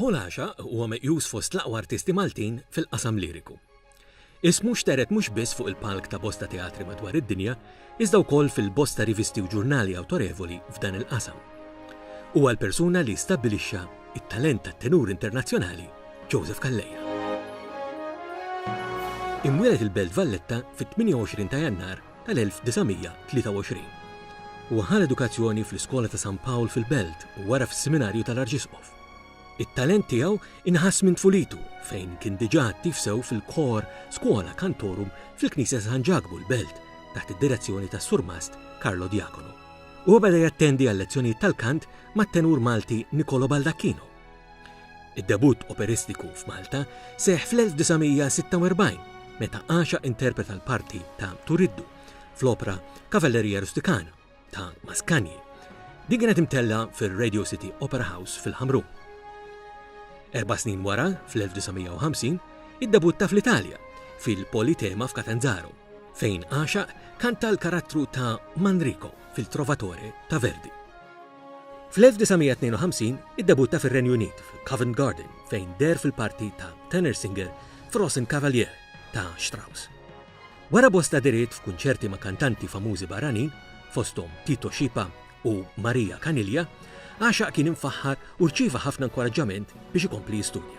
Paul Għaxa huwa meqjus fost l-aqwa artisti Maltin fil-qasam liriku. Ismu xtered mhux biss fuq il-palk ta' bosta teatri madwar id-dinja, iżda wkoll fil-bosta rivisti u ġurnali awtorevoli f'dan il-qasam. Huwa l-persuna li stabbilixxa t-talent tat-tenur internazzjonali Joseph Calleja. Imwieled il-Belt Valletta fit-28 ta' Jannar tal-1923. Huwa ħa l-edukazzjoni fl-Iskola ta' San Pawl fil-Belt u wara fis-Siminarju tal-Arċisqof. It-talent tiegħu inħass minn tfulitu fejn kien diġà attiv sew fil-kor Schola Cantorum fil-Knisja ta' San Ġakbu l-Belt taħt id-direzzjoni tas-Surmast Carlo Diacono. Huwa beda jattendi għal-lezzjonijiet tal-kant mat-tenur Malti Nicolo Baldacchino. Id-debutt operistiku f'Malta seħħ fl-1946 meta Axa interpreta l-parti ta' Turiddu fl-opra Cavalleria Rusticana ta' Mascagni. Din kienet imtella fir-Radio City Opera House fil-Ħamrun. Erba' snin wara, fl-1950, iddebutta fl-Italja fil-Politema f'Catanzaro, fejn Axa kanta l-karattru ta' Manrico fil-Trovatore ta' Verdi. Fl-1952 iddebutta fir-Renju Unit f'Covent Garden fejn deher fil-parti ta' tenor singer f'Rosen Kavalier ta' Strauss. Wara bosta dehriet f'kunċerti ma' kantanti famużi barranin, fosthom Tito Scipa u Maria Caniglia, għaxaq kien imfaħħar u rċieva ħafna inkoraġġament biex ikompli jistudja.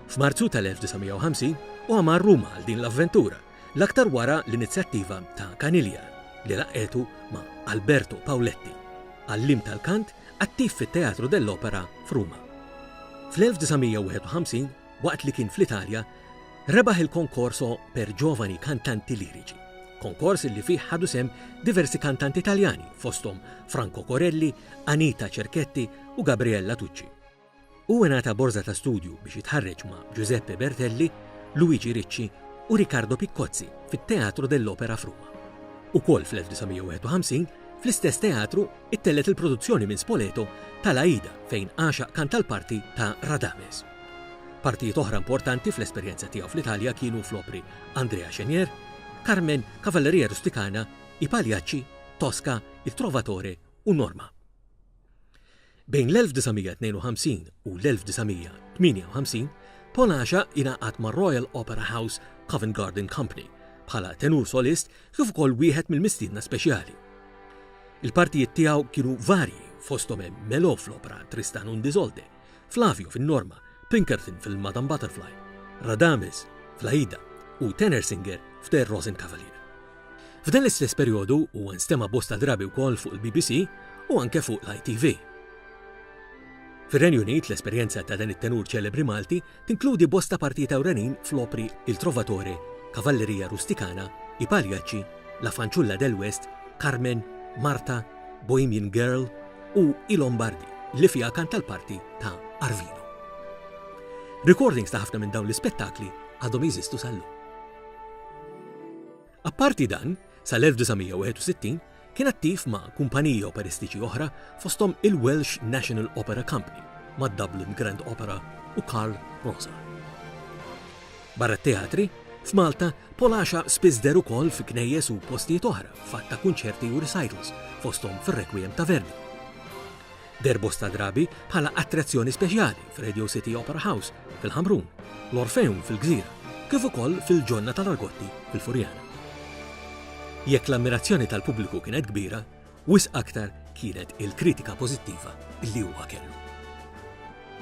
F'Marzu tal-1950 huwa mar Ruma għal din l-avventura, l-aktar wara l-inizjattiva ta' Caniglia li laqqgħetu ma' Alberto Pauletti, għalliem tal-kant attiv fit-Teatru dell'Opera f'Ruma. Fl-1951, waqt li kien fl-Italja, rebaħ il-Concorso per Giovani Cantanti Lirici, konkors li fih ħadu sehem diversi kantanti Taljani fosthom Franco Corelli, Anita Cerchetti u Gabriella Tucci. Hu ingħata borża ta' studju biex jitħarreġ ma' Giuseppe Bertelli, Luigi Ricci u Riccardo Piccozzi fit-Teatro dell'Opera f'Ruma. Ukoll fl-1951, fl-istess teatru, ittellgħet il-produzzjoni minn Spoleto ta' l-Aida fejn għaxaq kanta l-parti ta' Radames. Partijiet oħra importanti fl-esperjenza tiegħu fl-Italja kienu fl-opri Andrea Chenier, Carmen, Cavalleria Rusticana, I Pagliacci, Tosca, Il Trovatore u Norma. Bejn l-1952 u l-1958, Paul Asha ingħaqad mar-Royal Opera House Covent Garden Company bħala tenur solist kif ukoll wieħed mill-mistiedna speċjali. Il-partijiet tiegħu kienu varji fosthom hemm Melo fl-opra Tristan und Isolde, Flavio fin-Norma, Pinkerton fil-Madam Butterfly, Radames fl-Aida u Tenersinger f'The Rosenkavalier. F'dan l-istess perjodu huwa nstema' bosta drabi wkoll fuq il-BBC u anke fuq l-ITV. Fir-Renju Unit l-esperjenza ta' dan it-tenur ċelebri Malti tinkludi bosta partijiet ewlenin fl-opri Il Trovatore, Cavalleria Rusticana, I Pagliacci, La Fanciulla del West, Carmen, Marta, Bohemian Girl u I Lombardi, li fiha kanta l-parti ta' Arvino. Recordings ta' ħafna minn dawn l-ispettakli għadhom jeżistu sal-lum. Apparti dan, sal-1961 kien attiv ma' kumpaniji operistiċi oħra fosthom il-Welsh National Opera Company mad-Dublin Grand Opera u Carl Rosser. Barra t-teatri, f'Malta, Polasha spiss deher ukoll fi knejjes u postijiet oħra f'għadd ta' kunċerti u recitals fosthom fir-Requiem ta' Verdi. deher bosta drabi bħala attrazzjoni speċjali f'Radio City Opera House fil-Ħamrun, l-Orfeum fil-Gżira, kif ukoll fil-Ġonna tal-Argotti fil-Furjana. Jekk l-ammirazzjoni tal-pubbliku kienet kbira, wisq aktar kienet il-kritika pożittiva li huwa kellu.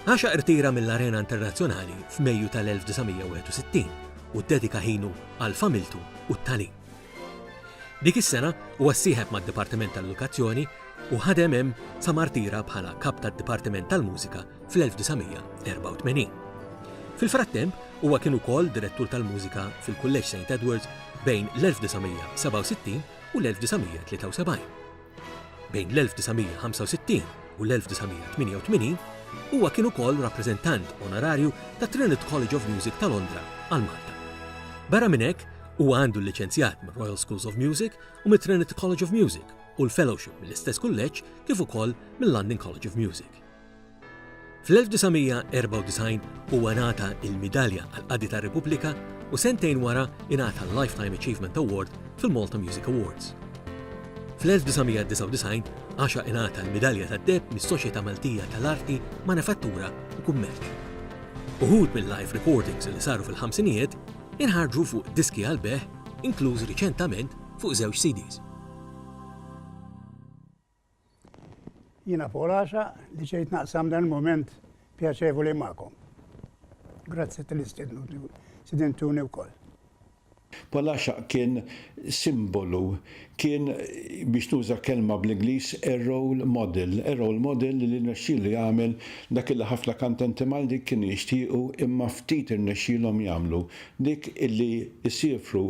Għaxa irtira mill-arena internazzjonali f'Mejju tal-1961 u ddedika ħinu għal familtu u t-tagħlim. Dik is-sena huwa ssieħeb mad-Dipartiment tal-Edukazzjoni u ħadem hemm sa mar tira bħala Kap tad-Dipartiment tal-Mużika fl-1984. Fil-frattemp, huwa kien ukoll Direttur tal-Mużika fil-Kulleġġ Saint Edwards bejn l-1967 u l-1973. Bejn l-1965 u l-1988 huwa kien ukoll rappreżentant onorarju ta' Trinit College of Music ta' Londra għal Malta. Barra minn hekk, huwa għandu l-liċenzjat mir-Royal Schools of Music u mit-Trinit College of Music u l-Fellowship mill-istess kulleġġ kif ukoll mill-London College of Music. Fl-1994 huwa ngħata l-Midalja għall-Qadi tar-Repubblika u sentejn wara ingħata l-Lifetime Achievement Award fil-Malta Music Awards. Fl-1999 Asha ingħata l-Midalja tad-Deheb mis-Soċjetà Maltija tal-Arti, Manifattura u Kummerċ. Uħud mil-live recordings li saru fil-ħamsinijiet inħarġu fuq diski għall-bejgħ inkluż riċentament fuq żewġ CDs. Jiena fuq l-għaxaq li ġejt naqsam dan il-mument pjaċevoli magħkom. Grazzi tal istidentuni wkoll. Paul Għaxaq kien simbolu, kien biex nuża kelma bl-Ingliż a role model, a role model li rnexxielu jagħmel dak li ħafna kantenti Malti kienu jixtiequ imma ftit irnexxielhom jagħmlu, dik illi jsiefru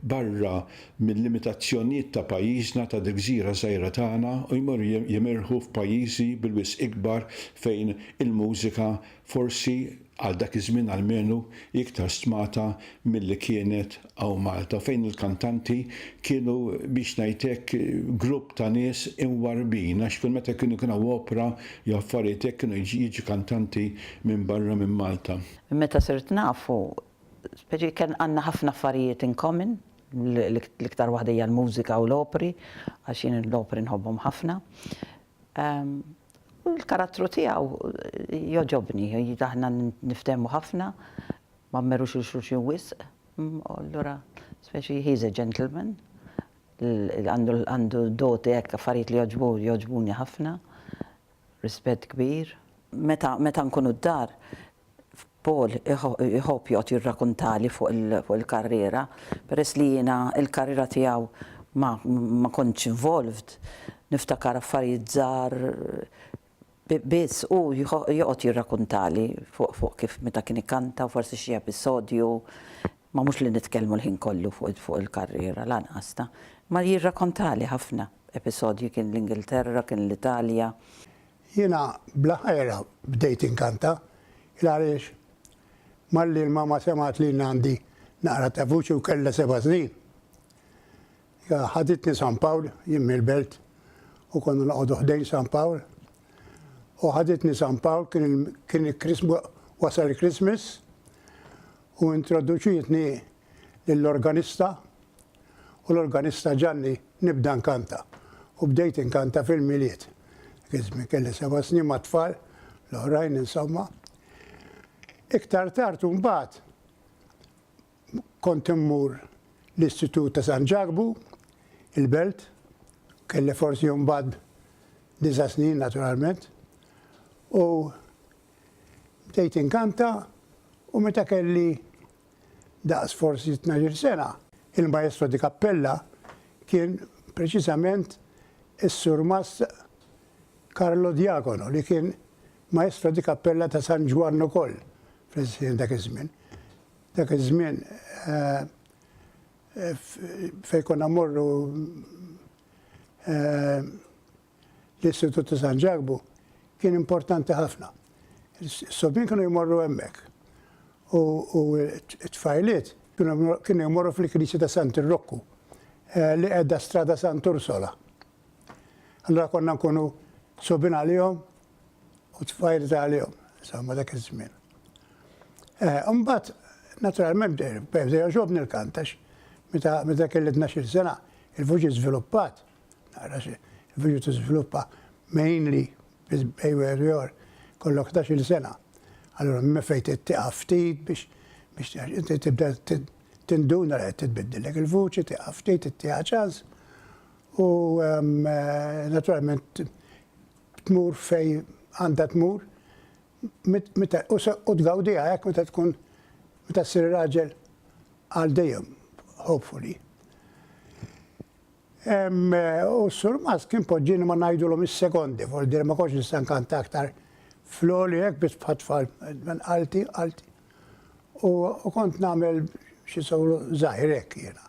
barra mil-limitazzjonijiet ta' pajjiżna, ta' dil-gżira żgħira tagħna u jmorru jimirħu f'pajjiżi bil-wisq ikbar fejn il-mużika forsi, għal dak iż-żmien almenu, hi iktar stmata milli kienet hawn Malta u fejn il-kantanti kienu biex ngħid hekk grupp ta' nies imwarrbin għax kull meta kienu jkun hawn opra jew affarijiet hekk kienu jiġi kantanti minn barra minn Malta. Meta sirt nafu Speċi ken għandna ħafna affarijiet in common, l-iktar waħda hija l-mużika u l-opri, għax jien l-opri nħobbhom ħafna. U l-karattru tiegħu jogħġobni, aħna niftehmu ħafna, ma mmerrux lil xulxin wisq, u allura speċi he is a gentleman, għandu għandu doti hekk, affarijiet li jogħġbu jogħġbuni ħafna. Rispett kbir. Meta, meta nkunu d-dar, Paul iħobb joqgħod jirrakuntali fuq il, fuq il-karriera. Peress li jiena il-karriera tiegħu ma, ma kontx involved, niftakar affarijiet żgħar biss. Hu joqgħod jirrakuntali fuq, fuq kif meta kien ikanta u forsi xi episodju Ma mhux li nitkellmu l-ħin kollu fuq il-karriera, lanqas, ta. Ma jirrakontali ħafna episodji, kien l-Ingilterra, kien l-Italja. Jiena bla ħajr bdejt inkanta, il-għariex malli l-mama semgħet li jien għandi naqra ta' vuċi u kellha seba' snin, hija ħaditni San Pawl, jien mill-Belt u konna noqogħdu ħdejn San Pawl, u ħaditni San Pawl, kien il-Christmas, wasal il-Christmas, u introduċietni lill-organista u l-organista ġagħlni nibda nkanta u bdejt inkanta fil-Milied. Dak iż-żmien kelli seba' snin mat-tfal l-oħrajn insomma. Iktar tard u mbagħad kont immur l-Istitut ta' San Ġakbu, il-Belt, kelli forsi mbagħad disa' snin naturalment, u Bdejt inkanta u meta kelli daqs forsi tnax-il sena, il-maestro di kappella kien preċiżament is-Surmast Carlo Diacono li kien maestro di kappella ta' San Ġwann ukoll dak iż-żmien. Dak iż-żmien fejn konna mmorru L-Istitut ta' San Ġakbu kien importanti ħafna. Is-sobien kienu jmorru hemmhekk. U t-tfajliet kienu jmorru fil-Knisja ta' Sant Irrokku eh, li qiegħda strada Sant Ursola. Allura konna nkunu sobin għalihom u tfajl għalihom, insomma dak iż-żmien. Eh, Umbat, naturalment, bdew ġobni l-kantax, meta kellitna xil sena, il-vuġi żviluppat. Naqra xi il-viġu tiżviluppa mainly bejn wieħed u ieħor kollok ħdax-il sena. Allura minn fejn trid tieqaf ftit biex biex inti tibda tinduna li qed titbiddillek il-vuċi, tieqaf ftit, ittieha ċans u naturalment tmur fej għandha tmur u tgawdiha hekk meta tkun meta ssir raġel għal dejjem, hopefully. U s-Sur Mas kien poġġieni ma ngħidulhom is-sekondi, vuol dire ma kontx nista' nkanta aktar fl-għoli hekk biss bħat-tfal, minn qalti, qalti. U kont nagħmel xi solo żgħir hekk jiena.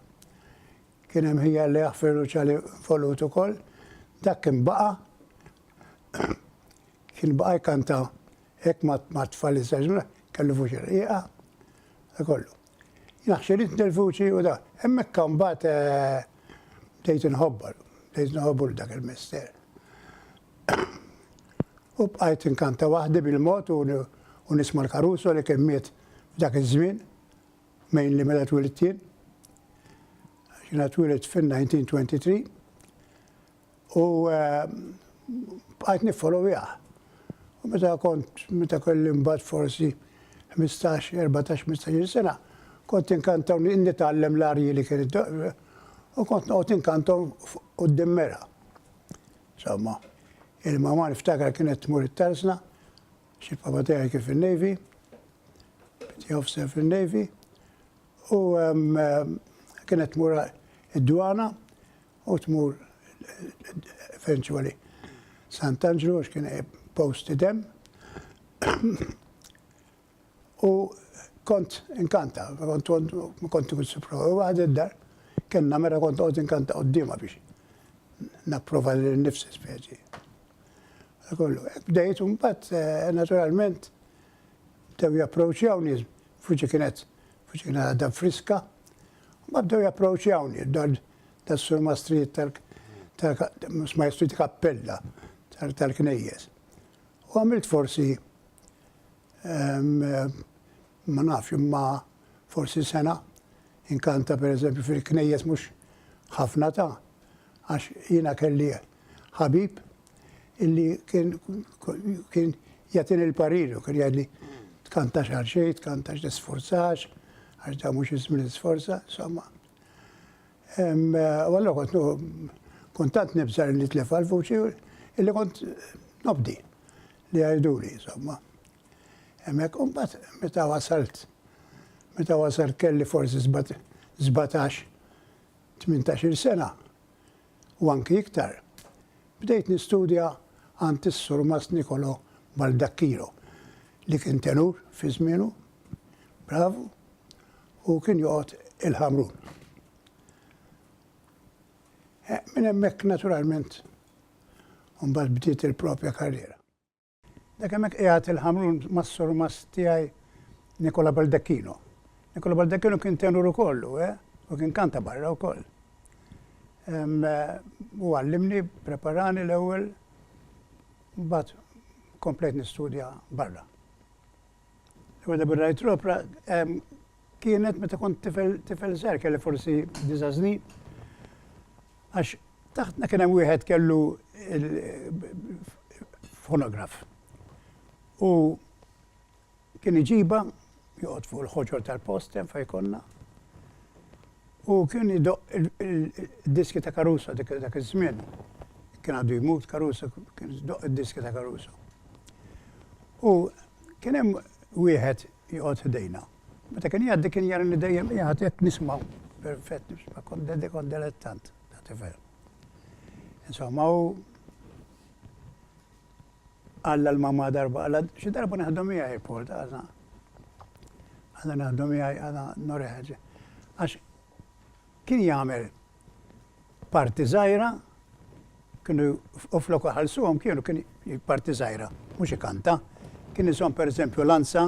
Kien hemm ħija Alla jaħfirlu ċali involut ukoll, dak kien baqa' kien baqa' jkanta hekk mat-tfal iż-żgħażugħ, kellu vuċi rqiqa, dak kollu. Naħxirit nirvuċi u da. Hemmhekk mbagħad bdejt inħobbar, bdejt nħobbu lil dak il-mister. U bqajt inkanta waħdi bil-mod u nisma' l-Caruso li kien miet f'dak iż-żmien, mejn li meta twilit jien. Jiena twilit fin-1923. U bqajt niffolowjah. U meta kont, meta kelli mbagħad forsi ħmistax, erbatax, ħmistax-il sena, kont inkanta u nitgħallem l-arji li kien u kont noqgħod inkanthom quddiem Mera. Insomma, il-mama niftakar kienet tmur it-tarsna, xi papa tiegħi kien fin-Navy, Petty Officer fin-Navy, u kienet tmur id-dwana u tmur eventually Sant'Anġlu għax kien posted hemm. U kont inkanta, kont kont ikun sipro, u għad id-dar, kena mera kont għod inkanta għoddima biex napprova li nifsi speċi. Kollu, bdejt un bat, eh, naturalment, bdew japproċjawni, fuċi kienet, fuċi kienet għadda friska, ma bdew japproċjawni, tas-Sur Mastriet tal Maestri ta' Kappella tal-Knejjes. U għamilt forsi ma nafx imma forsi sena inkanta per eżempju fil-knejjes mhux ħafna ta' għax jiena kelli ħabib illi kien jatin il-pariru, kien jgħidli tkantax għal xejn, tkantax tisforzax, għax da mhux ismi l-isforza, insomma. U allura kont kont tant nibża' li nitlefa l-vuċi illi kont nobdi li jgħiduli, insomma. Hemmhekk u mbagħad meta wasalt meta wasalt kelli forsi 17 18 sena u anki iktar. Bdejt nistudja għand is-Sur Mas Nikolo Baldakkilo li kien tenur fi żmienu, bravu, u kien joqgħod il-Ħamrun. Eh, minn hemmhekk naturalment mbagħad bdiet il-propja karriera. Dak hemmhekk qiegħed il-Ħamrun mas-sur mas tiegħi Nikola Baldacchino. Nikola Baldacchino kien tenur ukollu, eh? U kien kanta barra wkoll. Eh, u għallimni, preparani l-ewwel, mbagħad komplejt nistudja barra. L-ewwel darba rajt l-opra kienet meta kont tifel tifel żgħir kelli forsi disa' snin. Għax taħtna kien hemm wieħed kellu fonograf. U kien iġibha joqgħod fuq il-ħoġor tal-post hemm fejn konna. Hu kien idoqq id-diski ta' Caruso dak iż-żmien. Kien għadu jmut Caruso, kien idoqq id-diski ta' Caruso. U kien hemm wieħed joqgħod ħdejna. Meta kien jgħaddi kien jarani dejjem qiegħed qed nisma' perfett nisma' kont dedi kont delettant ta' tifel. Insomma hu Alla l-mamma darba Alla xi darba neħdu miegħi report għadha. Alla neħdu miegħi għadha noreħeġ. Għax kien jagħmel parti żgħira kienu u flok ħalsuhom kienu kien parti żgħira, mhux ikanta. Kien isom pereżempju lanza,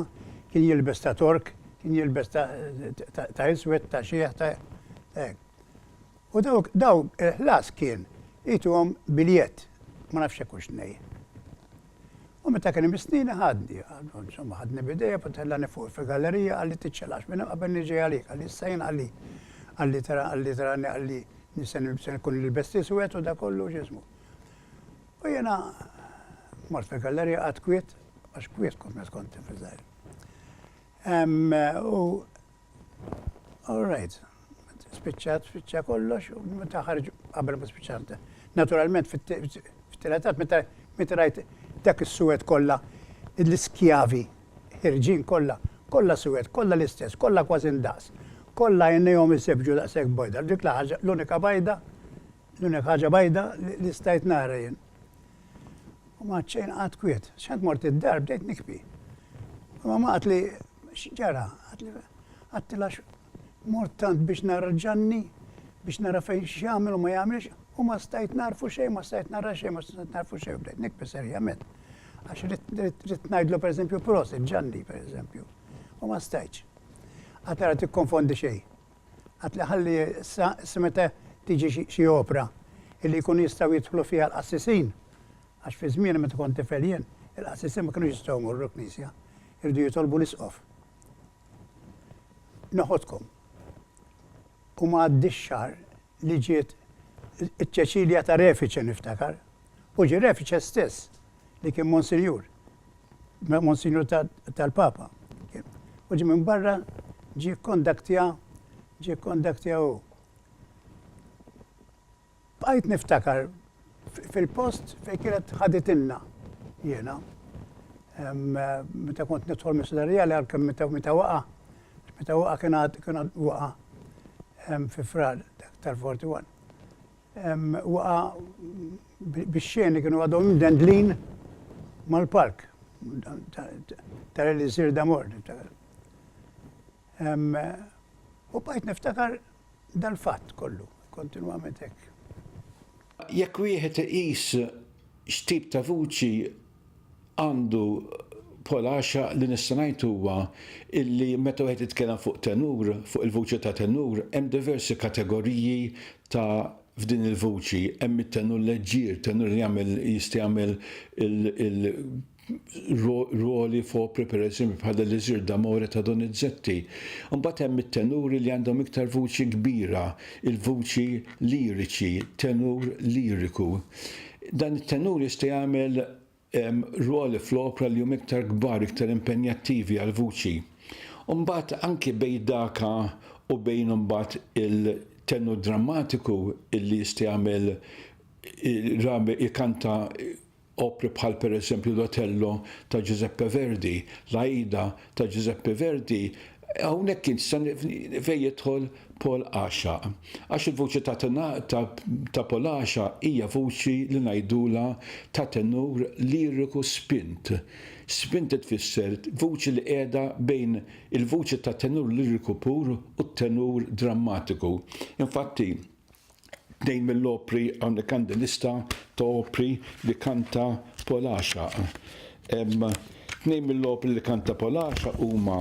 kien jilbes ta' tork, kien jilbes ta' iswed, ta' xieħ, ta' U dawk, dawk il-ħlas kien għidthom biljett, ma nafx hekk hux nej. U meta kien hemm is-snina ħadni, insomma ħadni b'idejja u tellani fuq fil-gallerija qalli tiċċaqlax minn hemm qabel niġi għalik, qalli issa jien qalli qalli tara qalli tarani qalli se nkun nilbes l-iswed u da kollu x'ismu. U jiena mort fil-gallerija qatt kwiet, għax kwiet kont meta kont tifel żgħir. U All right. Spiċċat, spiċċa kollox, u meta ħarġu qabel ma spiċċat. Naturalment fit-tiletat meta meta rajt dak is-suwed kollha l-iskjavi ħirġin kollha, kollha suwed, kollha l-istess, kollha kważi ndaqs. Kollha għajnejhom isebbġu daqshekk bojda. Dik l-ħaġa l-unika bajda L-unika ħaġa bajda li stajt nara jien. U ma ċejn qatt kwiet. X'għad mort id-dar bdejt nikbi. U mamma qatt li x'ġara, qatt li mort tant biex nara ġanni, biex nara fejn x'jagħmel u ma jagħmilx, u ma stajt narfu xejn, ma stajt nara xejn, ma stajt narfu xejn, bdejt nikbi serjament. Għax rrid ngħidlu pereżempju prosit ġanni pereżempju. U ma stajtx. Qatt ara tikkonfondi xejn. Qatt li ħalli issa issa meta tiġi xi xi opra illi jkunu jistgħu jidħlu fiha l-qassisin. Għax fi żmieni meta kont tifel jien, il-qassisin ma kinux jistgħu jmorru l-knisja. Irridu jitolbu l-isqof. Noħodkom. U ma għaddiex xahar li ġiet iċ-Ċeċilja ta' Refice niftakar. U ġie Refice stess li kien Monsinjur, Monsinjur tal-Papa. U ġi minn barra ġi kondaktja, ġi kondaktja u. Bqajt niftakar fil-post fejn kienet ħaditinna jiena. Meta kont nidħol mis-Sudarija li għalkemm meta waqa, meta waqa kien għad waqa fi frar tal-41. Waqa' bix-xeni kienu għadhom imdendlin mal-palk ta' l-Elisir D'Amore, niftakar. U bqajt niftakar dal-fatt kollu, kontinwament hekk. Jekk wieħed iqis x'tip ta' vuċi għandu bħala għaxaq li nista' ngħid huwa illi meta wieħed jitkellem fuq tenur, fuq il-vuċi ta' tenur, hemm diversi kategoriji ta' f'din il-vuċi. Hemm it-tenur leġġier, tenur li jagħmel jista' jagħmel il rwoli f'opri pereżempju bħal L-Elisir d'Amore ta' Donizetti. Imbagħad hemm it-tenuri li għandhom iktar vuċi kbira, il-vuċi liriċi, tenur liriku. Dan it-tenur jista' jagħmel rwoli fl-opra li huma iktar kbar, iktar impenjattivi għall-vuċi. U mbagħad anki bejn daka u bejn imbagħad il-tenur drammatiku illi jista' jagħmel rabi jkanta opri bħal pereżempju l-Otello ta' Giuseppe Verdi, l-Aida ta' Giuseppe Verdi, hawnhekk int sa fejn jidħol Paul Għaxaq. Għax il-vuċi ta' ta' Paul Għaxaq hija vuċi li ngħidulha ta' tenur liriku spint. Spint li tfisser vuċi li qiegħda bejn il-vuċi ta' tenur liriku pur u t-tenur drammatiku. Infatti, Tnejn mill-opri hawnhekk għandi lista ta' opri li kanta Polaxaq. Tnejn mill-opri li kanta Polaxaq huma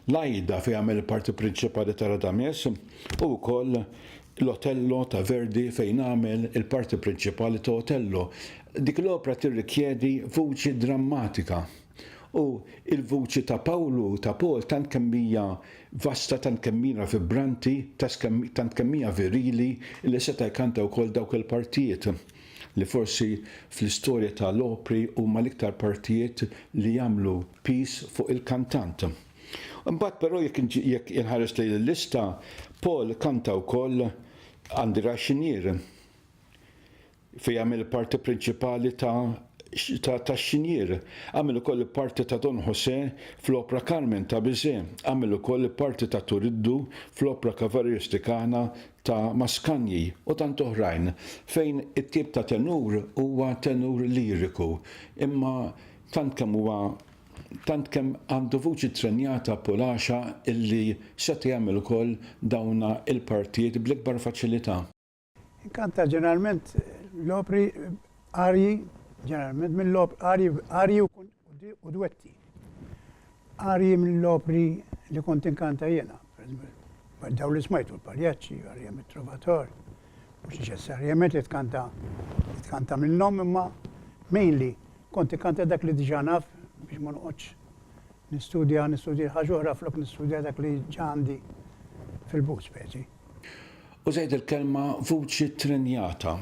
l-Ajda fejn għamel il-parti prinċipali ta' Radames u wkoll l-Otello ta' Verdi fejn għamel il-parti prinċipali ta' Otello. Dik l-opra tirrikjedi vuċi drammatika. U l-vuċi ta' Pawlu u ta' Paul tant kemm hija vasta, tant kemm hija vibranti, tant kemm hija virili li seta' jkanta wkoll dawk il-partijiet li forsi fl-istorja ta' l-opri huma l-iktar partijiet li jagħmlu piż fuq il-kantant. Imbagħad però jekk inħares lejn il-lista, Paul kanta wkoll Għandi raxxinier. Fi għamel parti prinċipali ta' ta' tax-xinjier. Għamel ukoll il-parti ta' Don José fl-opra Carmen ta' Bizet. Għamel ukoll il-parti ta' Turiddu fl-opra Cavalli Rusticana ta' Mascagni u tant oħrajn fejn it-tip ta' tenur huwa tenur liriku imma tant kemm huwa tant kemm għandu vuċi ttrenjata pulaxa illi seta' jagħmel ukoll dawna il-partijiet bl-ikbar faċilità. Inkanta ġeneralment l-opri arji, ġeneralment mill-opri arji, arji u dwetti. Arji mill-opri li kont inkanta jena, daw li smajtu l-paljaċċi, arja mit-trovator, mux neċessarjament li tkanta, tkanta minnom imma mainly kont inkanta dak li diġanaf biex ma noqgħodx Nistudja, nistudja ħaġa oħra flok nistudja dak li ġa għandi fil-but, speċi. U żgħid il-kelma vuċi ttrenjata.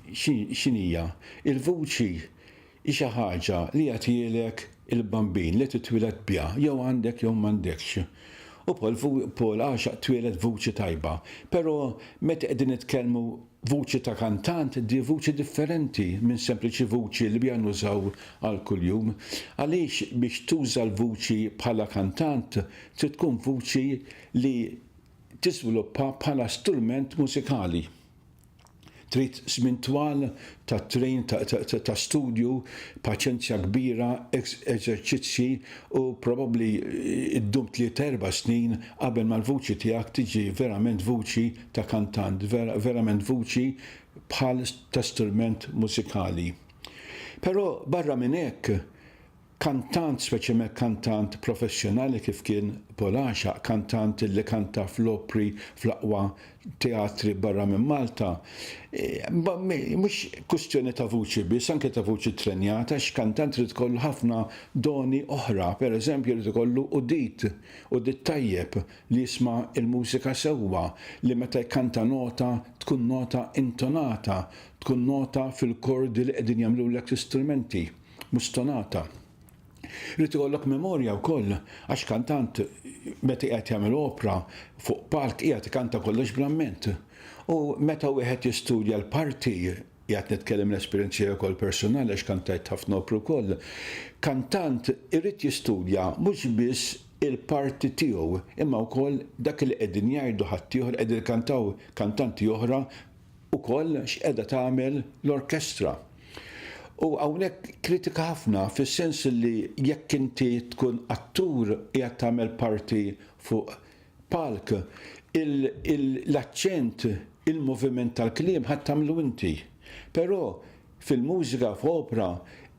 X'inhi hija? Il-vuċi hi xi ħaġa li jagħtielek il-bambin li titwieled biha, jew għandek jew m'għandekx. U Paul għaxaq twieled b'vuċi tajba. Però meta qegħdin nitkellmu Vuċi ta' kantant di vuċi differenti minn sempliċi vuċi li biha nużaw għal kuljum. Għaliex biex tuża l-vuċi bħala kantant trid tkun vuċi li tiżviluppa bħala strument mużikali. Trid żmien twal ta' train, ta' studju, paċenzja kbira, eżerċizzji u probabbli ddum tlieta erba' snin qabel ma l-vuċi tiegħek tiġi verament vuċi ta' kantant, vera, verament vuċi bħal ta' strument mużikali. Però barra minn hekk, kantant, speċjalment kantant professjonali kif kien Paul Għaxaq, kantant li kanta fl-opri fl-aqwa teatri barra minn Malta, mhux kwistjoni ta' vuċi biss, anke ta' vuċi ttrenjata, għax kantant irid ikollu ħafna doni oħra, pereżempju jrid ikollu udit, udit tajjeb. li jisma' l-mużika sewwa, li meta jkanta nota tkun nota intonata, tkun nota fil-kordi li qegħdin jagħmlulek l-istrumenti, mhux stonata. Irid ikollok memorja wkoll għax kantant meta qiegħed jagħmel opra fuq palk qiegħed ikanta kollox bl-amment. U meta wieħed jistudja l-parti, qiegħed nitkellem l-esperjenza tiegħi wkoll personali għax kantajt ħafna opri wkoll, kantant irid jistudja mhux biss il-parti tiegħu imma wkoll dak li qegħdin jgħidu ħaddieħor qegħdin ikkantaw kantanti oħra wkoll x'qiegħda tagħmel l-orkestra. U hawnhekk kritika ħafna fis-sens li jekk inti tkun attur qiegħed tagħmel parti fuq palk il-l-aċċent il-moviment tal-kliem ħa tagħmlu inti. Però Fil-mużika, f'opra,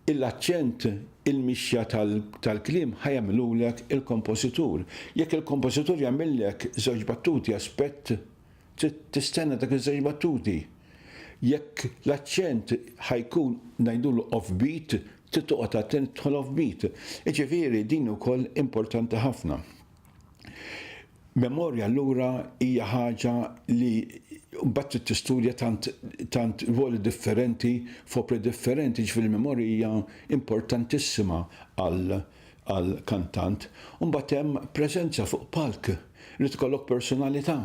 il-aċċent, il-mixja tal-kliem ħa jagħmilulek il-kompożitur. Jekk il-kompożitur jagħmillek żewġ battuti aspett, trid tistenna dak iż-żewġ battuti. Jekk l-aċċent ħa jkun ngħidulu off beat, trid toqgħod attent tidħol off beat. Jiġifieri din ukoll importanti ħafna. Memorja allura hija ħaġa li mbagħad trid tistudja tant tant ruoli differenti f'opri differenti, ġifieri l-memorja hija importantissima għal għal kantant. U mbagħad hemm preżenza fuq palk, irid ikollok personalità.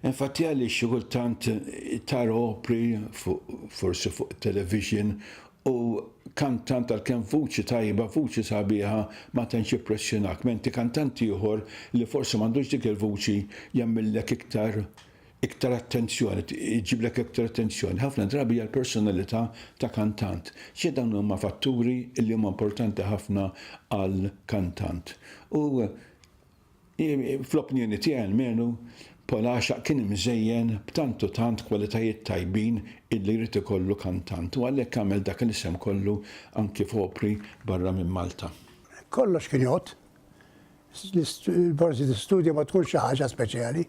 Infatti għaliex xi kultant tara opri fuq forsi fuq television U kantant għalkemm vuċi tajba, vuċi sabiħa ma tantx jippressjonak menti kantant ieħor li forsi m'għandux dik il-vuċi jagħmillek iktar iktar attenzjoni, iġiblek iktar attenzjoni. Ħafna drabi hija l-personalità ta' kantant. Xi dawn huma fatturi li huma importanti ħafna għal kantant. U Fl-opinjoni tiegħi almenu, Paul Għaxaq kien imżejjen b'tant u tant kwalitajiet tajbin illi jrid ikollu kantant u għalhekk għamel dak il-isem kollu anki f'opri barra minn Malta. Kollox kien jgħodd. Forsi l-istudju ma tkunx xi ħaġa speċjali,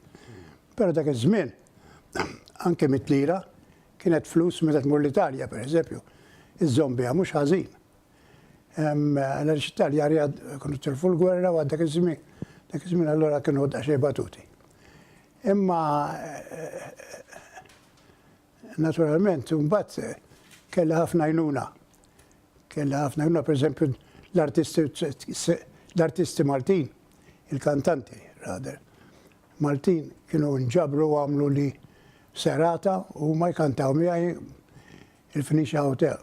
però dak iż-żmien anki mitt lira kienet flus meta tmur l-Italja, pereżempju, iżżomm biha mhux ħażin. Għaliex Italjani kienu tilfu l-gwerra u dak iż-żmien, dak iż-żmien allura kienu daqsxejn batuti. Imma naturalment imbagħad kellha ħafna jnuna. Kellha ħafna jnuna pereżempju l-artisti Maltin, il-kantanti rader. Maltin kienu nġabru għamlu li serata u ma jkantaw miegħi il-Phoenicia Hotel,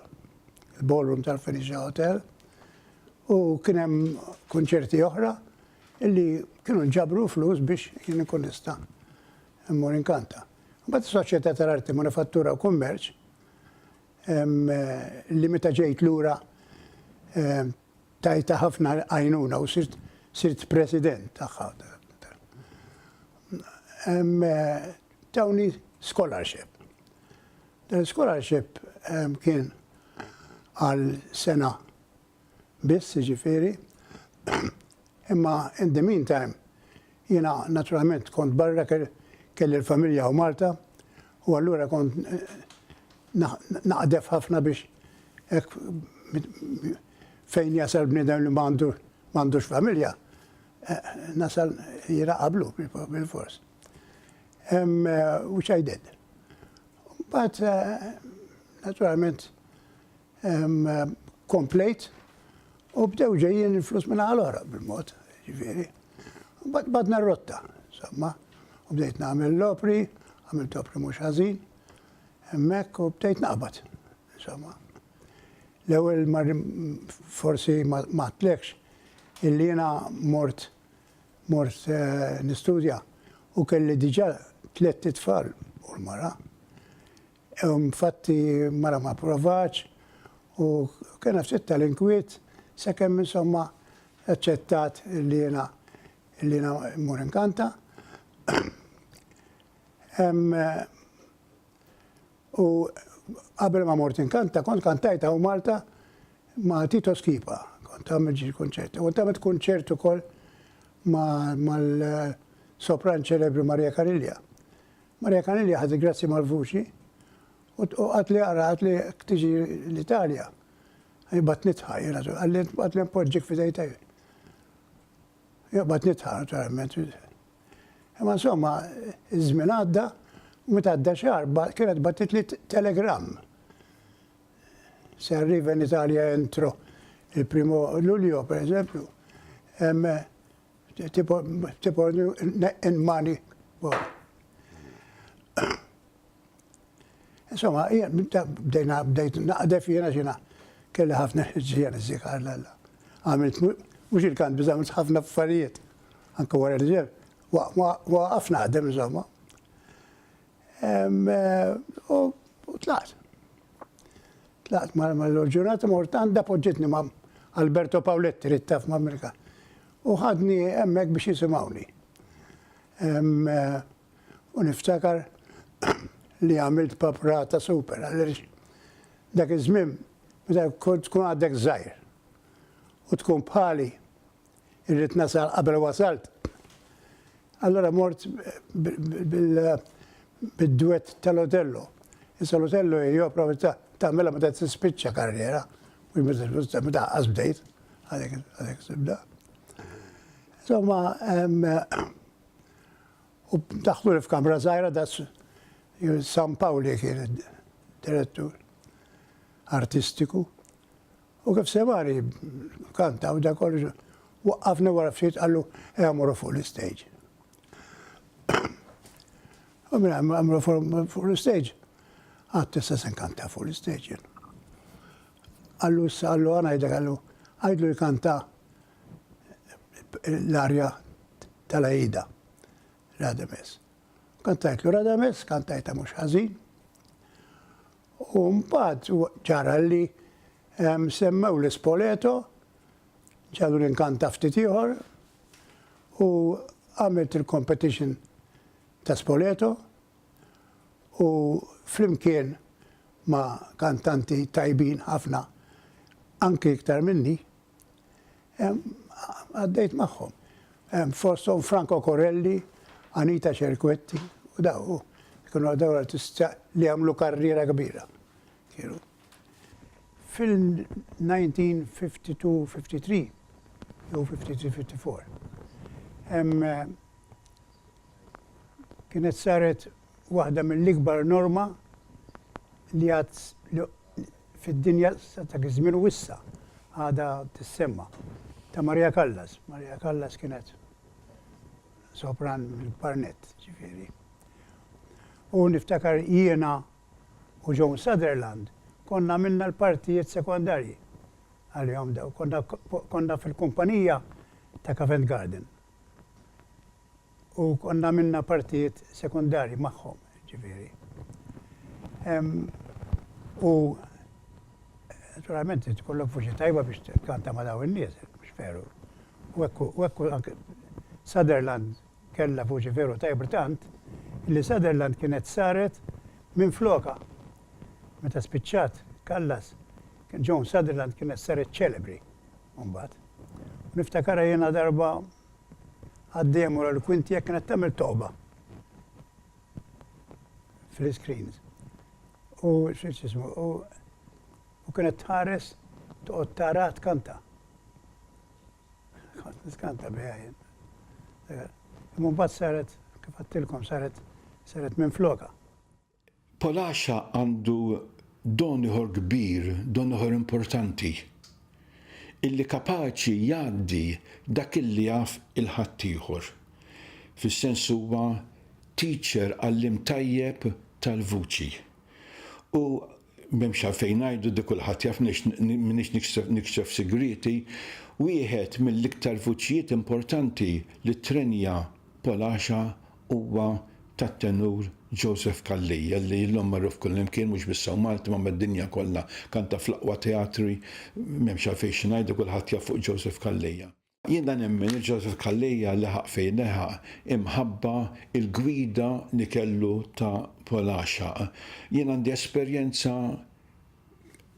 il-ballroom tal-Phoenicia Hotel, u kien hemm kunċerti oħra illi kienu ġabru flus biex jien ikun nista' immur inkanta. Mbagħad is-Soċjetà tal-Arti Manifattura u Kummerċ li meta ġejt lura Tajtha ħafna għajnuna u sirt sirt president tagħha. Tawni scholarship. Dan scholarship kien għal sena biss ġifiri, imma in the meantime Jiena naturalment kont barra kelli l-familja hawn Malta u allura kont naqdef ħafna biex hekk fejn jasal bniedem li m'għandux familja nasal jiena qablu bilfors. Which I did. Mbagħad naturalment komplejt u bdew ġejjin il-flus minn għal oħra bil-mod, ġifieri. Mbagħad badna r-rotta, insomma, u bdejt nagħmel l-opri, għamilt opri mhux ħażin, hemmhekk u bdejt naqbad, insomma. L-ewwel forsi ma tlekx illi jiena mort mort eh, nistudja u kelli diġà tlett tfal u l-mara. Infatti mara ma pprovatx u kena ftit tal-inkwiet sakemm insomma aċċettat li jiena li jiena mmur inkanta. U qabel ma mort inkanta kont kantajt hawn Malta ma' Tito Schipa, kont għamilt xi kunċerti. Kont għamilt kunċert ukoll mal-sopran ċelebri Maria Carillia. Maria Canelli ħadet grazzi mal-vuċi u qatli għara qatli tiġi l-Italja. Bat nitħa, jena tu, għalli għatli npoġġik fidej taj. Bat nitħa, naturalment. Ma insomma, iż-żmien għadda, meta għadda xar, kienet batit li telegram. Se arriva in Italja entro il-primo luglio, per eżempju, Tipor in money. Insomma, bdejna bdejt naqdef jiena xina kelli ħafna ġijan iżżikar l-alla. Għamilt mux il-kant biza għamilt ħafna affarijiet. Anka wara l-ġeb, waqaf naħdem insomma. U tlaqt. Tlaqt ma l-ġurnata mort għanda poġġitni ma Alberto Paoletti li taf ma Amerika. U ħadni emmek biex jisimawni. U niftakar li għamilt paprata super, għalix dak iż-żmien, meta tkun għaddek żgħir u tkun bħali, irrid nasal qabel wasalt. Allura mort bid-dwett tal-Otello. Issa l-Otello hi opra tagħmilha meta tispiċċa karriera, mhux meta tispiċċa meta ħaqqas bdejt, għalhekk tibda. Insomma, u daħlu li f'kamra żgħira da San Pawli kien direttur artistiku U kif sema' li kanta u dak kollu, waqqafni wara ftit qallu ejja morru fuq l-istage. U minn hemm għamlu fuq l-istage. Qatt issa se nkanta fuq l-istage jien. Qallu issa qallu ngħidlek qallu għidlu jkanta l-arja tal-Aida. Radames. Kantajtlu Radames, kantajta mhux ħażin. U mbagħad ġara li semmew l-Spoleto, ġadu l-inkanta ftit ieħor u għamilt il-competition ta' Spoleto u flimkien ma' kantanti tajbin ħafna anki iktar minni, Għaddejt magħhom. Fosthom Franco Corelli, Anita Cerquetti u daw. Kienu għaddew artista li għamlu karriera kbira. Kienu. Fil-1952-53, jew 53-54, kienet saret waħda mill-ikbar norma li għad fid-dinja sa dak iż-żmien u issa għadha tissemma, ta' Maria Callas. Maria Callas kienet sopran mill-kbar nett, ġifieri. U niftakar jiena u Joan Sutherland konna għamilna l-partijiet sekondarji għalihom dawn. Konna fil-kumpanija ta' Covent Garden. u konna għamilna partijiet sekondarji magħhom, ġifieri. U naturalment trid ikollok vuċi tajba biex tkanta ma' dawn in-nies, mhux veru? U hekk u hekk u anke Sutherland kellha vuċi veru tajba tant li Sutherland kienet saret minflokha. Meta spiċċat Callas, Joan Sutherland kienet saret ċelebri mbagħad. U niftakarha jiena darba Għaddejja mur għal kwint jekk kienet tagħmel toqba fl-iscreens. U x'ismu, u kienet tħares toqgħod tara tkanta. Kont niskanta biha jien. Imma mbagħad saret, kif għattilkom, saret saret minn floka. Palaxa għandu don ieħor kbir, don ieħor importanti, illi kapaċi jgħaddi dak illi jaf il-ħaddieħor. Fis-sens huwa teacher, għalliem tajjeb tal-vuċi. U M'hemmx għalfejn ngħidu, di kulħadd jaf m'iniex nikxef sigrieti, wieħed mill-iktar vuċijiet importanti li ttrenja Polasha huwa tat-tenur Joseph Calleja li illum magħruf kullimkien mhux biss hawn Malta ma mad-dinja kollha. Kanta fl-aqwa teatri, m'hemmx għalfejn xi ngħidu kulħadd jaf fuq Joseph Calleja. Jiena nemmen li Joseph Calleja leħaq fejn leħaq imħabba il-gwida li kellu ta' Polaxaq. Jien għandi esperjenza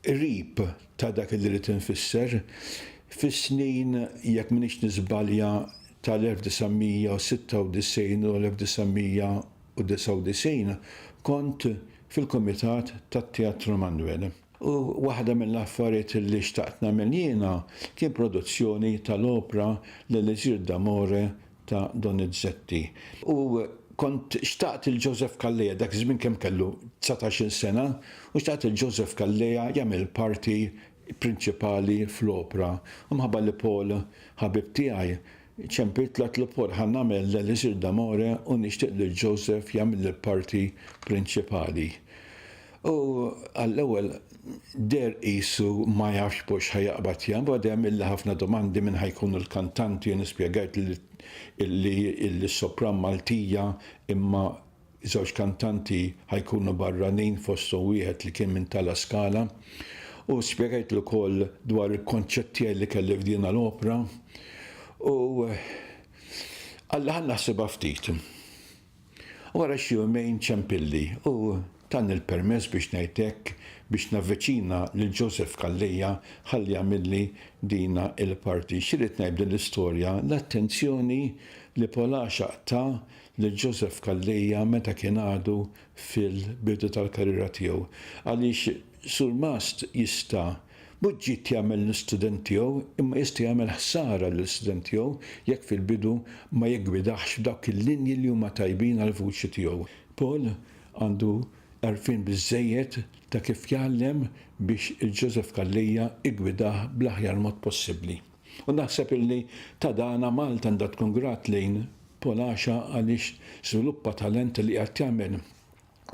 qrib ta' dak li rrid infisser. Fis-snin, jekk m'iniex niżbalja, tal-1996 u 1999 kont fil-kumitat tat-Teatru Manwel. U waħda mill-affarijiet li xtaqt nagħmel jiena kien produzzjoni tal-opra L-Elisir d'amore ta' Donizetti. U kont xtaqt lil Joseph Calleja, dak iż-żmien kemm kellu, dsatax-il sena, u xtaqt lil Joseph Calleja jagħmel il-parti prinċipali fl-opra. U minħabba li Paul ħabib tiegħi, Ċempilt l-att l-ipor ħa nagħmel l-elisir d'amore u nixtieq lil Joseph jagħmilli l-parti prinċipali. Hu għall-ewwel deher qisu ma jafx b'hux ħa jaqbad jaqbad hemm illa ħafna domandi min ħa jkunu l-kantanti jien ispjegajtlu li li s-sopran Maltija imma Żewġ kantanti ħa jkunu barranin fosthom wieħed li kien minn ta' La Scala u spjegajtlu wkoll dwar il-konċett tiegħi li kelli f'dina l-opra u qalli ħa naħsibha ftit. Wara xi jumejn ċempilli u tani l-permess biex ngħid hekk biex navviċina lil Joseph Calleja ħalli jagħmilli dina l-parti. X'irrid ngħid b'din l-istorja? L-attenzjoni li Pol Għaxaq ta lil Joseph Calleja meta kien għadu fil-bidu tal-karriera tiegħu. Għaliex surmast jista' mhux ġid jagħmel l-istudent tiegħu imma jista' jagħmel ħsara lill-istudent tiegħu jekk fil-bidu ma jiggwidaħx f'dawk il-linji li huma tajbin għall-vuċi tiegħu. Paul għandu għarfien biżżejjed ta' kif jgħallem biex il-Joseph Calleja iggwidah bl-aħjar mod possibbli. U naħseb illi ta' dana Malta għandha tkun grat lejn Paul Asha għaliex żviluppa talent li qiegħed jagħmel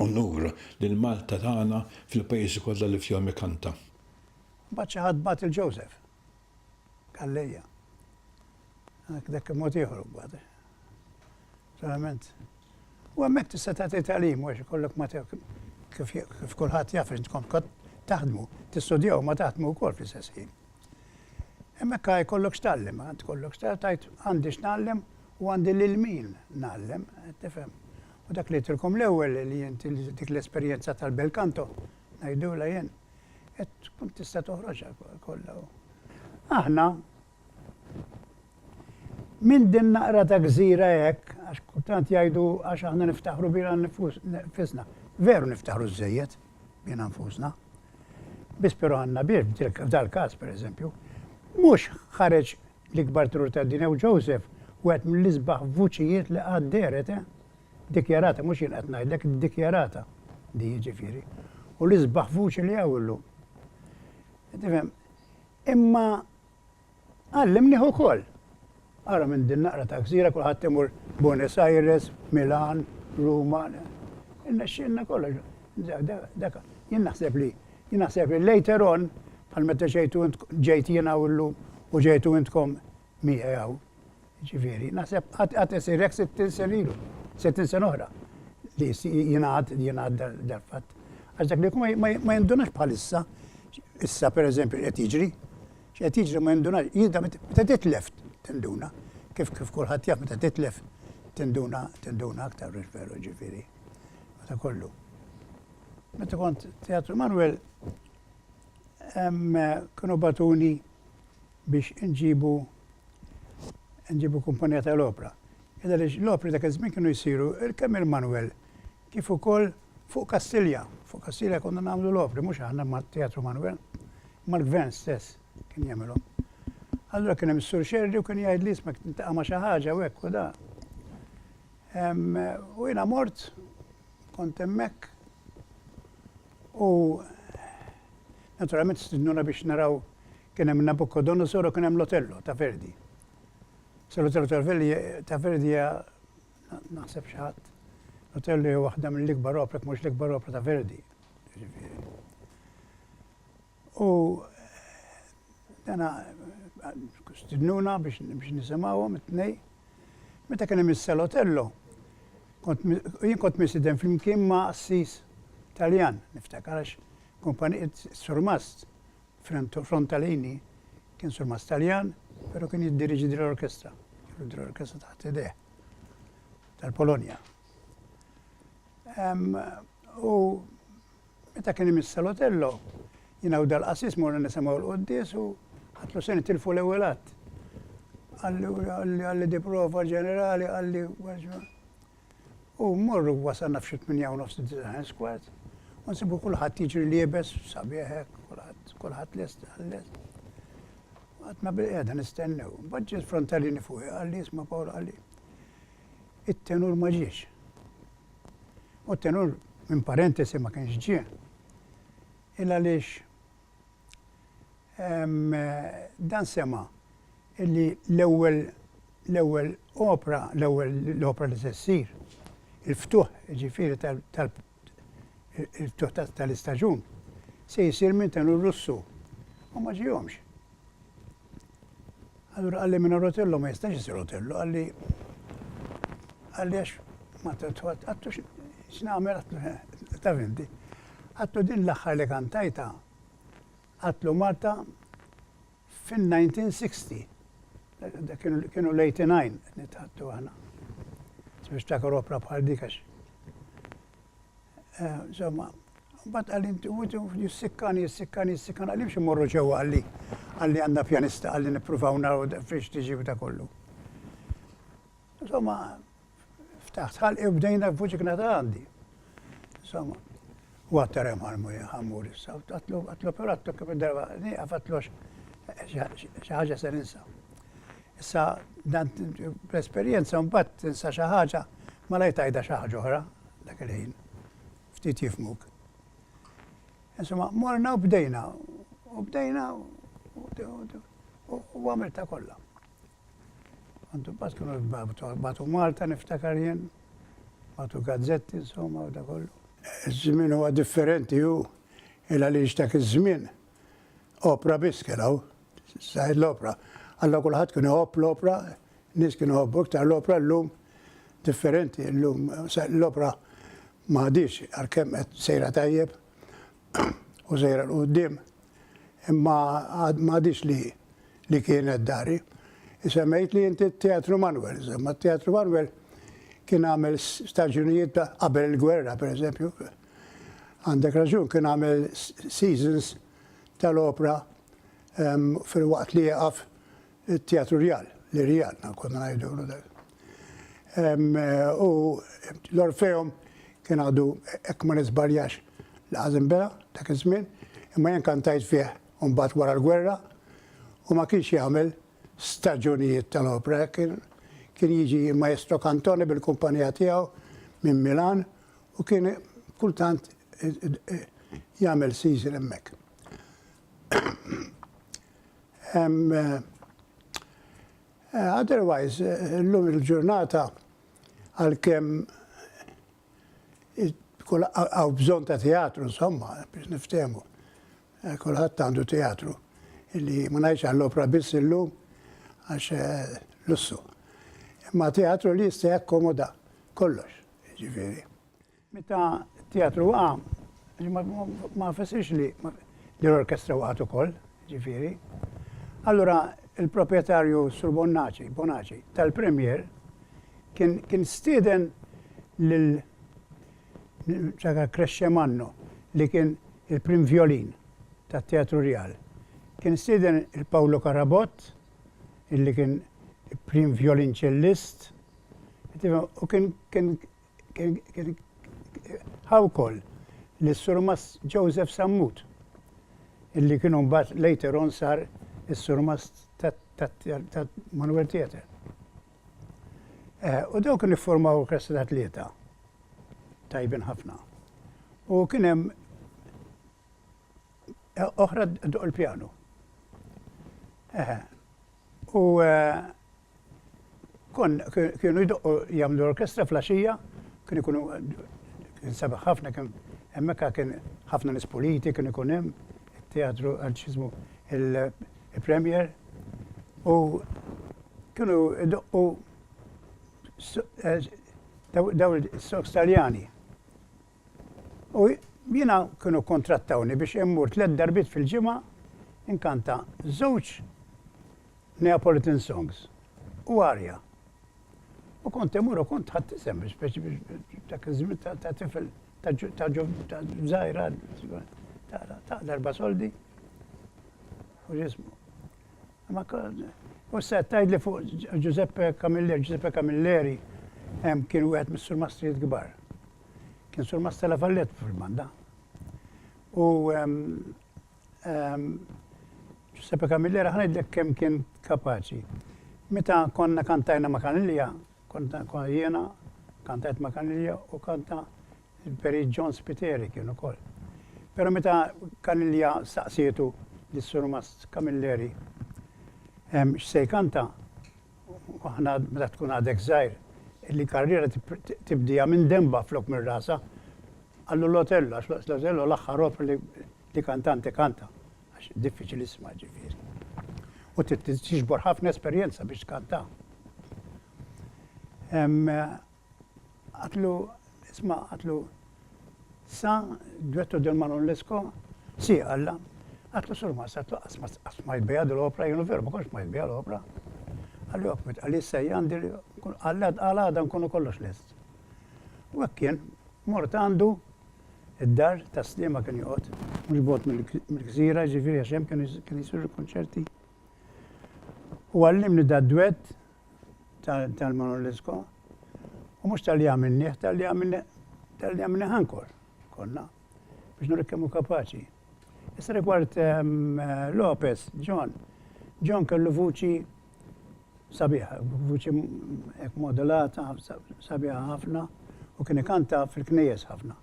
unur lil Malta tagħna fil-pajjiżi kollha li fihom ikanta. Imbagħad xi ħadd bagħat lil Joseph Calleja. Dak dak kien mod ieħor imbagħad. Verament. U hemmhekk tista' tagħti tagħlim għax ikollok ma kif kulħadd jaf intkom kont taħdmu, tistudjaw ma taħdmu wkoll fl-istess ħin. Hemmhekk għaj kollok x'tgħallem, għand kollok tajt għandi x'nagħllem u għandi lil min nagħllem, qed tifhem. U dak li tilkom l-ewwel li inti dik l-esperjenza tal-belkanto ngħidula jien qed tkun tista' toħroġha kollha. Aħna minn din naqra ta' gżira hekk għax kultant jgħidu għax aħna niftaħru bina nifisna. Veru niftaħru żejjed. bina nfusna. Biss però għandna bir, f'dal-każ, pereżempju, mhux ħareġ l-ikbar trur tad-dinja u Joseph wieħed mill-isbaħ vuċijiet li qatt dehret, eh! Dikjarata, mhux jien qed ngħidlek, dikjarata di jiġifieri. U l-isbaħ vuċi li hawn illum. Tifhem? Imma Għallimnih ukoll. Ara minn din naqra ta' gżira kulħadd imur Buenos Aires, Milan, Ruma. Irnexxielna kollox. Dak jien naħseb li jien naħseb li later on bħal meta ġejtu int ġejt jien hawn illum u ġejtu intkom miegħi hawn. Jiġifieri, naħseb qatt qatt isir hekk sittin sena ilu, sittin sena oħra li jingħad jingħad dal-fatt. Għax dak li jkun ma jindunax bħalissa, issa pereżempju qed jiġri, x'qed jiġri ma jindunax, jidda meta titlef tinduna, kif kif kulħadd jaf meta titlef tinduna tinduna aktar biex veru ġifieri. Meta kollu. Meta kont Teatru Manuel kienu batuni biex inġibu inġibu kumpanija ta' l-opra. Id għaliex l-opri dak iż-żmien kienu jsiru kemm il-manwel kif ukoll fuq Kastilja. Fuq Kastilja konna nagħmlu l-opri, mhux aħna mat-Teatru Manwel, imma l-Gvern stess kien jagħmilhom. Allura kien hemm is-Sur Scerri u kien jgħidli isma' tintaqa' ma' xi ħaġa u hekk u da. U jiena mort, kont hemmhekk, U naturalment stidnuna biex naraw kien hemm Nabucodonosor u kien hemm l-Otello ta' Verdi. Sa l-Otello ta' Verdi hija naħseb xi ħadd l-Otello hija waħda mill-ikbar opra, jekk mhux l-ikbar opra ta' Verdi. Jiġifieri. U dana stidnuna biex nisimgħuhom it-tnej. Meta kien hemm is-Salotello, kont mi, jien kont mistieden flimkien ma' qassis Taljan, niftakar għax kumpan, is-surmast Fr, Frontalini kien surmast Taljan, però kien jiddiriġi din l-orkestra, kellu din l-orkestra taħt idejh tal-Polonja. U Meta kien imiss Salotello, jiena u dal-qassis morna nisimgħu l-quddies u ħadtlu se nitilfu l-ewwel att. Qalli, qalli di prova ġenerali, qalli, u mmorru wasalna f'xi tminja u nofs u disa' ħens kwart, u nsibu kulħadd jiġri liebes sabiħ hekk, kulħadd, kulħadd lest, lest. Għadna bilqiegħda nistennew. Imbagħad ġie l-frontalini fuqi qalli, isma' Pawl, qalli, it-tenur ma ġiex. u t-tenur minn parentesi ma kienx ġie, il għaliex dan sema' illi l-ewwel l-ewwel opra, l-ewwel l-opra li se ssir, il-ftuħ jiġifieri tal il-ftuħ tal-istaġun, se jsir minn tenur Russu u ma ġiehomx. Allura qalli minn Otello ma jistax isir Otello, qalli qalli għax ma għattu x'nagħmel ta' fimti. Għattu din l-aħħar li kantajtha għatlu Malta fin-1960. Kienu l-89 li tgħattu aħna. Niftakar opra bħal dik għax. Insomma, mbagħad qal inti u jissikkan, jissikkan, jissikkan, għalli biex immorru ġewwa għalli għalli għandna pjanista għalli nippruvaw naraw fiex tiġi u ta' kollu. Insomma, ftaħt ħalqi u bdejna f'buċikna ta' għandi. Insomma, u għattar hemm ħalmu ħammur issa, għatlu għatlu perattu kif id-darba, għafatlu xi ħaġa se ninsa. Issa dan bl-esperjenza mbagħad tinsa xi ħaġa malajr tgħidha xi ħaġa oħra dak il-ħin. Ftit jifmuk. Insomma, morna u bdejna. U bdejna u għamilta kollha. Għandu bat kienu batu Malta niftakar jien, batu gazzetti insomma u da kollu. Iż-żmien huwa differenti u il għaliex dak iż-żmien Opra biss kien hawn, saret l-opra. Alla kulħadd kien iħobb l-opra, nies kienu jħobbu iktar l-opra llum differenti, llum l-opra ma għadix għalkemm qed sejra tajjeb u sejra l qudiem imma ma għadix li li kienet dari. Isemmejt li inti t-Teatru Manuel, imma t-Teatru Manuel kien għamel staġunijiet qabel il-gwerra, per eżempju, Għandek raġun kien għamel seasons tal-opra fil-waqt li jieqaf it-Teatru Rjal, li Rjal na konna ngħidulu dak. U l-Orfeum kien għadu hekk ma nisbarjax li għażin bela dak iż-żmien, imma jien kantajt fih mbagħad wara l-gwerra u ma kienx jagħmel staġunijiet tal-opra, kien jiġi Maestro Cantone bil-kumpanija tiegħu minn Milan u kien kultant jagħmel season hemmhekk. Otherwise, illum il-ġurnata għalkemm kull għaw bżon ta' teatru, insomma, biex niftemu. Eh, Kulħadd għandu teatru. Illi ma ngħidx għall-opra biss illum għax eh, lussu. Imma teatru li jista' jakkomoda kollox. Jiġifieri. Meta t-teatru waqa', ma fessirx li l-orkestra waqgħet ukoll, jiġifieri. Allura il-proprjetarju Sur Bonnaċi, Bonaci, tal-Premier kien stieden lil Ċaka Crescemanno li kien il-prim vjolin tat-Teatru Rjal. Kien stieden il-Pawlo Carabott, illi kien prim vjolinċellist, u kien kien kien ħawkoll li s-surmast Joseph Sammut, illi kien mbagħad later on sar is-surmast ta' Manuel Theatre. Eh, u dawk kien iffurmaw klassi ta' tlieta tajbin ħafna. U kien hemm oħra doq il-pjanu. U eh, kon kienu jdoqqu jagħmlu orkestra flaxija, kien ikunu kien sabaħ ħafna kien hemmhekk kien ħafna nies politi kien ikun hemm teatru għanċizmu il-premier u kienu doqqu eh, daw il-soks taljani. U jiena kienu kkuntrattawni biex immur tliet darbiet fil-ġimgħa inkanta żewġ Neapolitan songs u arja. U kont immur u kont ħadt isem biex biex biex dak iż-żmien ta' ta' tifel ta' ġu- ta' ġu- ta' żgħira ta' ta' darba soldi. U ġismu. Ma kont. U se tgħidli fuq Ġ- Ġużeppe Camilleri, Ġużeppe Camilleri em, kien wieħed mis-surmastrijiet kbar. Kien Sur Mastella Fallet fil-banda. U Giuseppe Camillera ħanajdlek kemm kien kapaċi. Meta konna kantajna ma' Kanilja, konna jiena kantajt ma' Kanilja u kanta il-Peri John Spiteri kien ukoll. Pero meta Kanilja saqsietu lis-Sur Mast Camilleri x'se jkanta, aħna meta tkun għadek żgħir, li karriera tibdieha minn denbha flok minn rasha. Qallu l-Otello, għax waqt l-Otello l-aħħar opra li kantante kanta, għax diffiċli issmagħha ġifieri. U trid tiġbor ħafna esperjenza biex tkantaha. Għatlu, isma' għatlu, sa, Duetto del Manon Lescaut, si, għalla, għatlu Surmast, għatlu qatt smajt biha di l-opra, jienu veru ma kontx smajt biha l-opra. Għalli ok, meta qalli issa hija għandi, għalli għal għada nkunu kollox lest. U hekk kien, mort għandu, id-dar ta' Sliema kien joqgħod, mhux bogħod mill-gżira, ġifieri għax hemm kienu jsiru l-kunċerti. U għallimni da' duett, tal-Monolitsko, u mhux talli għamilnieh, talli għamilnieh, talli għamilnieh ankor, konna, biex nurek kemm hu kapaċi. Issa rigward ehm, Lopez, John, John kellu vuċi sabiħa, vuċi modulata, sabiħa ħafna, u kien ikanta fil-knejjes ħafna.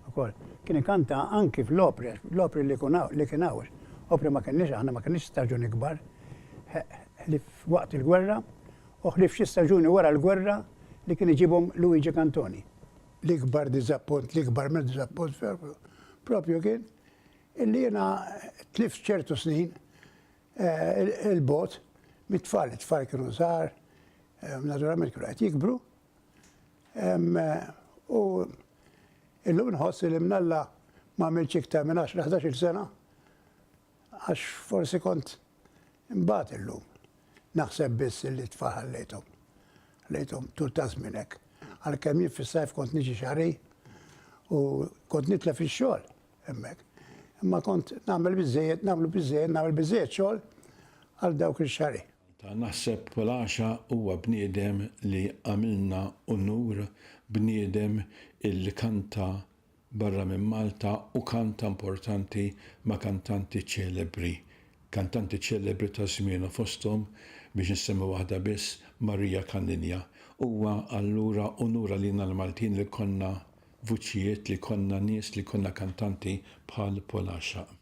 ukoll. Kien ikanta anki fl-opri, l-opri li jkun hawn, li kien hawn. Opri ma kenniex aħna, ma kenniex staġuni kbar. Ħlief waqt il-gwerra u ħlief xi staġuni wara l-gwerra li kien iġibhom Luigi Cantoni. L-ikbar diżappunt, l-ikbar minn diżappunt propju, propju kien illi jiena tlift ċertu snin il-bogħod mit-tfal, it-tfal kienu żgħar, naturalment kienu qed jikbru, U illum nħossi li mnalla ma għamilx iktar minn 10-11 sena għax forsi kont imbagħad illum. Naħseb biss li tfal ħallejthom. Ħallejthom tul ta' żminek. Għalkemm jien fis-sajf kont niġi xari u kont nitlef ix-xogħol hemmhekk. Imma kont nagħmel biżejjed, nagħmlu biżejjed, nagħmel biżejjed xogħol għal dawk ix-xari. Ta' naħseb Palaxa huwa bniedem li għamilna unur, bniedem illi kanta barra minn Malta u kanta importanti ma' kantanti ċelebri. Kantanti ċelebri ta' żmienu fosthom, biex insemmi waħda biss, Maria Caniglia. Huwa allura unur għalina l-Maltin li jkollna vuċijiet, li jkollna nies, li jkollna kantanti bħal Palaxa.